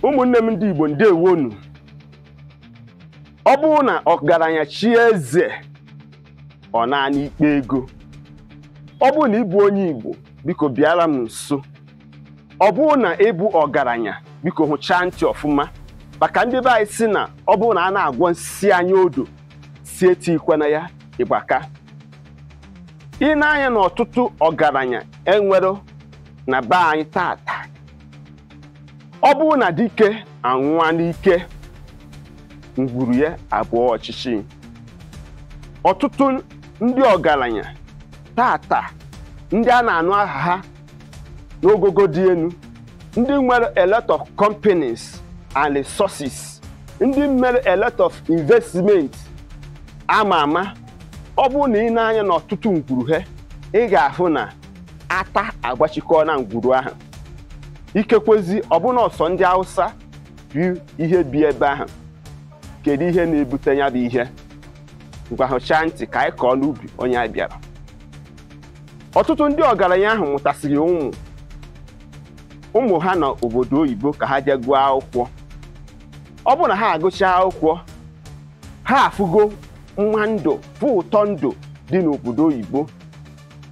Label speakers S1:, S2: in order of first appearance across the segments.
S1: ụmụnne m ndị Igbo ndewonu ọ bụrụ na ọgaranya chie eze ọ naanị ikpe ego ọ bụrụ na ị bụ onye Igbo biko bịara m nso ọ bụrụ na ị bụ ọgaranya biko hụchaa ntị ọfụma maka ndị be anyị sị na ọ bụrụ na a na-agwọ nsi anya odo sị etikwana ya ịgbaka i nee anya na ọtụtụ ọgaranya e nwere na be anyị tata ọ bụrụ na dike anwụọ n'ike ngwuru ya abụọ ọchịchị ọtụtụ ndị ọgaranya tata ndị a na-anụ aha ha n'ogogo dị enu ndị nwere a lot of companies and resources ndị mere a lot of investment ama ama ọ bụrụ na i nee anya n'ọtụtụ ngwuru ha ị ga-afụ na ata agbachikọọna ngwuru ahụ ikekwezi ọ bụ na ọ sọ ndị Hausa bụ ihe bi ebe ahụ kedu ihe na-ebute nya bụ ihe ngwa hụchaa ntị ka anyị kọọ n'ubi onye a bịara ọtụtụ ndị ọgaranya ahụ mụtasịrị ụmụ ụmụ ha na obodo oyibo ka ha jee gụọ akwụkwọ ọ bụrụ na ha agụchaa akwụkwọ ha afụgo mma ndụ fụ ụtọ ndụ dị n'obodo oyibo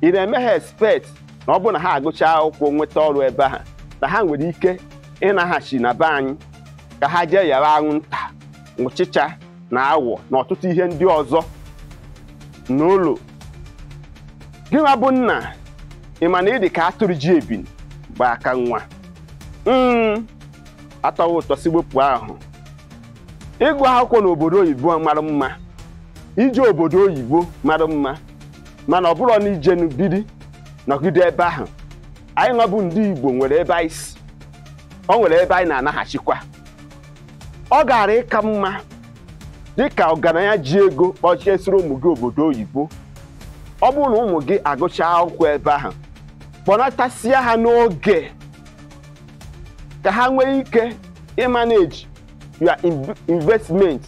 S1: ị na-eme ha expect na ọ bụrụ na ha agụcha akwụkwọ nweta ọrụ ebe ahụ na ha nwere ike ịnaghachi na be anyị ka ha jee yara anwụnta ụchịcha na awọ na ọtụtụ ihe ndị ọzọ n'ụlọ gịnwa bụ nna ị ma na ị dị ka atụrụ ji ebini gba aka nwa mm atọwa ụtọ si wepụ ahụ ịgụ akwụkwọ n'obodo oyibo mara mma ije obodo oyibo mara mma mana ọ bụrụ na i jenụ biri nọgide ebe ahụ anyị nwa bụ ndị Igbo nwere ebe anyị si ọ nwere ebe anyị na-anaghachikwa ọ gara ịka mma dịka ọgaranya ji ego kpọjesịrị ụmụ gị obodo oyibo ọ bụrụ na ụmụ gị agụchaa akwụkwọ ebe ahụ kpọnatasia ha n'oge ka ha nwee ike ịmanage your investment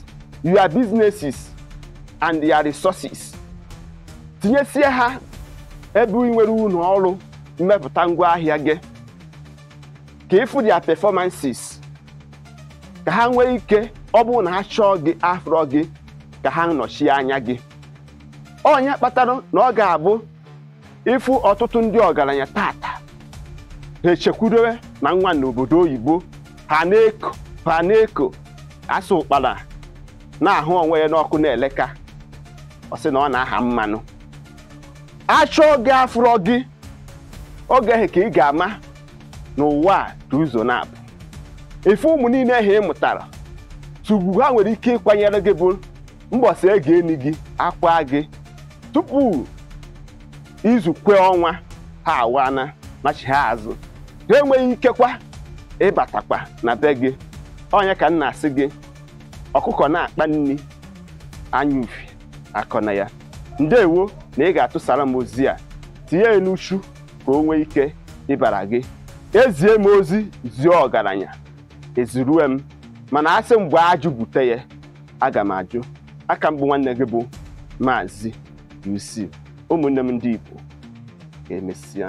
S1: your businesses and your resources tinyesie ha ebe ị nwere ụlọ ọrụ mmepụta ngwa ahịa gị ka ị fụ their performances ka ha nwee ike ọ bụrụ na ha chọọ gị afrọ gị ka ha nọchie anya gị ọ nya kpatara na ọ ga-abụ ịfụ ọtụtụ ndị ọgaranya tata ha echekwudowe na nwa n'obodo oyibo ha na-eko ha na-eko a sị ụkpara na-ahụ onwe ya n'ọkụ na-ele ka ọ sị na ọ na-aha mmanụ a chọọ gị a fụrọ gị oge ahụ ka ị ga-ama na ụwa a dị ụzọ naabọ ị fụ ụmụ niile ahụ ị mụtara sọ ugwu ha nwere ike ịkwanyere gị bụ mbọsị a ga-eni gị a kwaa gị tupu izu kwee ọnwa ha awana nachigha azụ ha enweghị ikekwa ịbatakwa na be gị onye ka m na-asị gị ọkụkọ na-akpa nri anya ufie akọna ya ndewo na ị ga-atụsara m ozi a tinye ya n'uchu ka o nwee ike ịbara gị e zie m ozi zie ọgaranya ezirue m mana a sị m gbaa ajụ bute ya aga m ajụ aka m bụ nwanne gị bụ maazị UC ụmụnne m ndị Igbo ka emesịa